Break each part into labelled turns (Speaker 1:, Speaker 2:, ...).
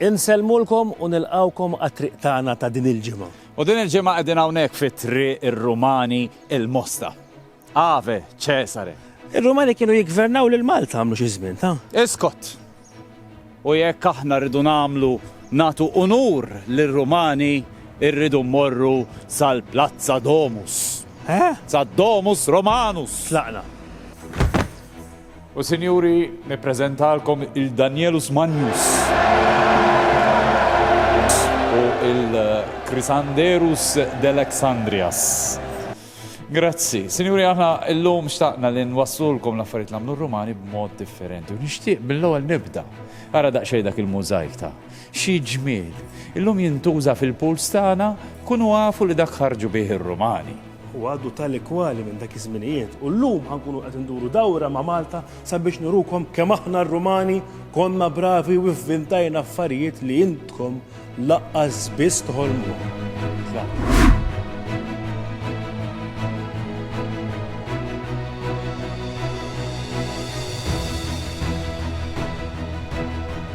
Speaker 1: Insellmulkom u nilqgħukom għat-triq tagħna ta' din il-ġimgħa. U din il-ġimgħa qegħdin
Speaker 2: hawnhekk fi Triq ir-Rumani il-Mosta. Ave Cesare! Ir-Rumani kienu
Speaker 1: jiggvernaw lil Malta għamlu xi żmien, ta? Iskot!
Speaker 2: U jekk aħna rridu nagħmlu nagħtu unur lir-Rumani rridu mmorru sal-Plazza Domus. Eh? Sad-Domus Romanus! Tlaqna. U sinjuri, nippreżentalkom il-Danielus Magnus u il-Krisanderus Delexandrias. Grazzi. Sinjuri, aħna illum xtaqna li nwaslulkom l-affarijiet l-għamlu r-Rumani b'mod differenti. U nixtieq mill-ewwel nibda. Ara daqsxejn dak il-mużajk ta' Xi ġmiel! Illum jintuża fil-pools tagħna, kunu afu li dak ħarġu bih ir-Rumani. Hu għadu tali
Speaker 1: kwali minn dak iż-żminijiet u llum ħa nkunu qed induru dawra ma' Malta sabiex nurukom kemm aħna r-Rumani konna bravi u vvintajna affarijiet li intkom laqqas biss toħolmuhom.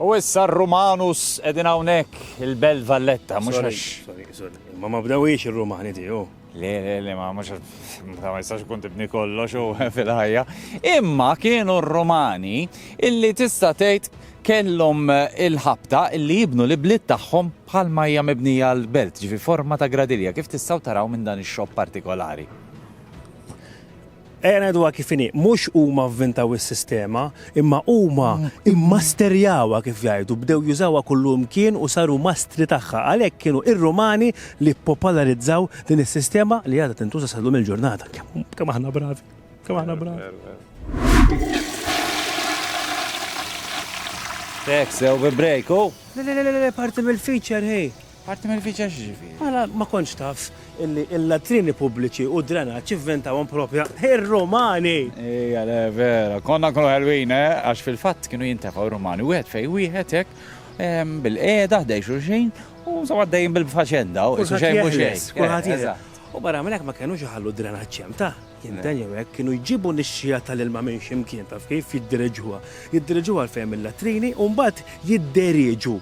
Speaker 2: U issa r-Rumanus qegħdin hawnhekk il-Belt Valletta, mhux Sorry, għax. sorry, sorry. Ma ma
Speaker 1: bdewhiex ir-Rumani tiegħu. Le, le, le, ma mhux
Speaker 2: ma jistax ikun tibni kollox u fil-ħajja. Imma kienu r-Rumani illi tista' tgħid kellhom eh, il-ħabta illi jibnu l-ibliet tagħhom bħal ma hija mibnija l-belt, ġifi forma ta' gradilja, kif tistgħu taraw minn dan ix-xogħol partikolari.
Speaker 1: Ejja ngħiduha kif inhi, mhux huma vvintaw is-sistema, imma huma mmasterjawha kif jgħidu, bdew jużawha kullimkien u saru mastri tagħha. Għalhekk kienu r-Rumani li ppopolarizzaw din is-sistema li għadha tintuża sal-lum il-ġurnata. Kemm aħna bravi, kemm aħna bravi.
Speaker 2: Tek, sew bi break, u? Le, le, le, le,
Speaker 1: parti mill-feature, hej. Parti mill-viċja
Speaker 2: x'ġifieri? Ara, ma kontx taf
Speaker 1: illi l-latrini pubbliċi u d-drenaġġ ivventawhom proprja r-Rumani! Ija le,
Speaker 2: vera. Konna nkunu ħelwin, eh? Għax fil-fatt kienu jintefgħu r-Rumani wieħed fejn wieħed hekk, bil-qiegħda ħdej xulxin u insomma għaddejjin bil-faċenda, u qisu xejn mhu xejn. Kulħadd jeħles, kulħadd jeħles. U barra minn hekk ma
Speaker 1: kenux iħallu d-drenaġġ hemm, tah, jinten jew hekk, kienu jġibu nixxiegħa tal-ilma minn xi mkien, taf kif, jiddiriġuha. Jiddiriġuha għalfejn mill-latrini u mbagħad jidderieġu.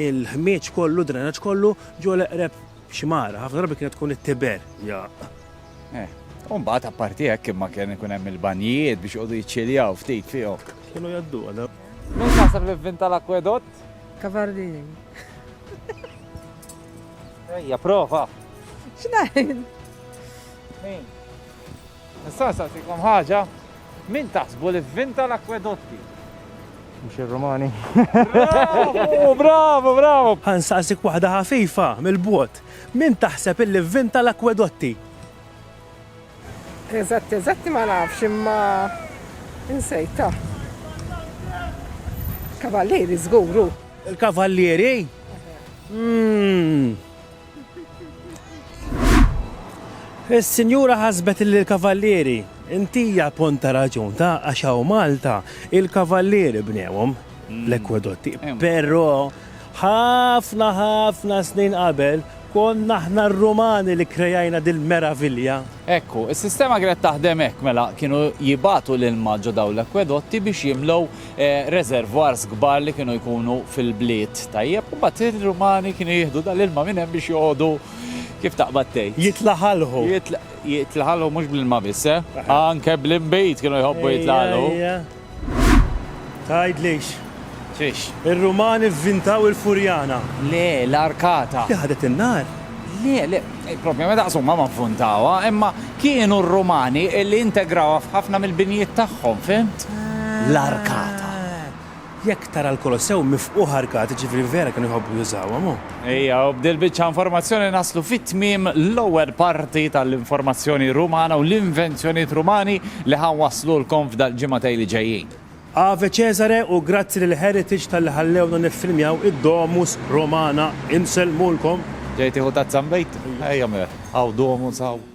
Speaker 1: Il-ħmieġ kollu, d-drenaġġ kollu, ġo l-eqreb xmara, ħafna drabi kienet tkun it-Tiber, jgħaqq.
Speaker 2: Eh. U mbagħad apparti hekk imma kien ikun hemm il-banjijiet biex joqogħdu jiċċiljaw ftit fihom. Kienu jgħadduha
Speaker 1: dawn. Min taħseb li
Speaker 2: vvinta l-akwedott? Cavallini.
Speaker 3: Ejja,
Speaker 2: prova. X'ngħid? Min? Nista' nsaqsikom ħaġa? Min taħsbu li vvinta l-akwedotti? Mhux
Speaker 3: ir-Rumani? Bravu! Bravu!
Speaker 2: Bravu! Ħa nsaqsik waħda
Speaker 1: ħafifa, mill-bogħod. Min taħseb illi vvinta l-akwedotti?
Speaker 3: Eżatti eżatti ma nafx imma insejtha. Kavallieri żgur hu. Il-Kavallieri?
Speaker 1: Umm. Is-sinjura ħasbet li l-kavallieri intija pont ta' raġun ta' għax hawn Malta il-kavallieri bnewhom l-ekwedotti. Però ħafna ħafna snin qabel konna aħna r-Rumani li krejajna dil-meravilja. Ekku, is-sistema
Speaker 2: kienet taħdem hekk mela kienu jibagħtu l-ilma ġo dawn l-ekwedotti biex jimlew reservoirs kbar li kienu jkunu fil-bliet, tajjeb, u mbagħad ir-Rumani kienu jieħdu dal-ilma minn hemm biex joqogħdu kif taqbad tgħid. Jitlaħalħu.
Speaker 1: Jitlaħalħu
Speaker 2: mhux bl-ilma biss, eh? Anke bl-inbid kienu jħobbu jitlaħalħu. Tgħidlix.
Speaker 1: Xiex?
Speaker 2: Ir-Rumani
Speaker 1: vvintaw il-furjana. Le,
Speaker 2: l-arkata. Li ħadet in-nar.
Speaker 1: Le, le,
Speaker 2: il-problema daqs huma ma ffuntawha, imma kienu r-Rumani li integrawha f'ħafna mill-binjiet tagħhom, fhimt? L-arkata.
Speaker 1: Jekk tara l-Kolossew mifqugħ arkati, ġifieri vera kienu jħobbu jużawhom, hu. Ejja, u b'dil biċċa
Speaker 2: informazzjoni naslu fi tmiem l-ewwel parti tal-informazzjoni Rumana u l-invenzjonijiet Rumani li ħa nwasslulkom f'dal-ġimgħatej li ġejjin. Ave Cesare
Speaker 1: u grazzi lil Heritage talli ħallewna niffilmjaw id-Domus Romana,
Speaker 2: insellmulkom. Ġej tieħu tazza nbid? Ejja mela, hawn Domus hawn.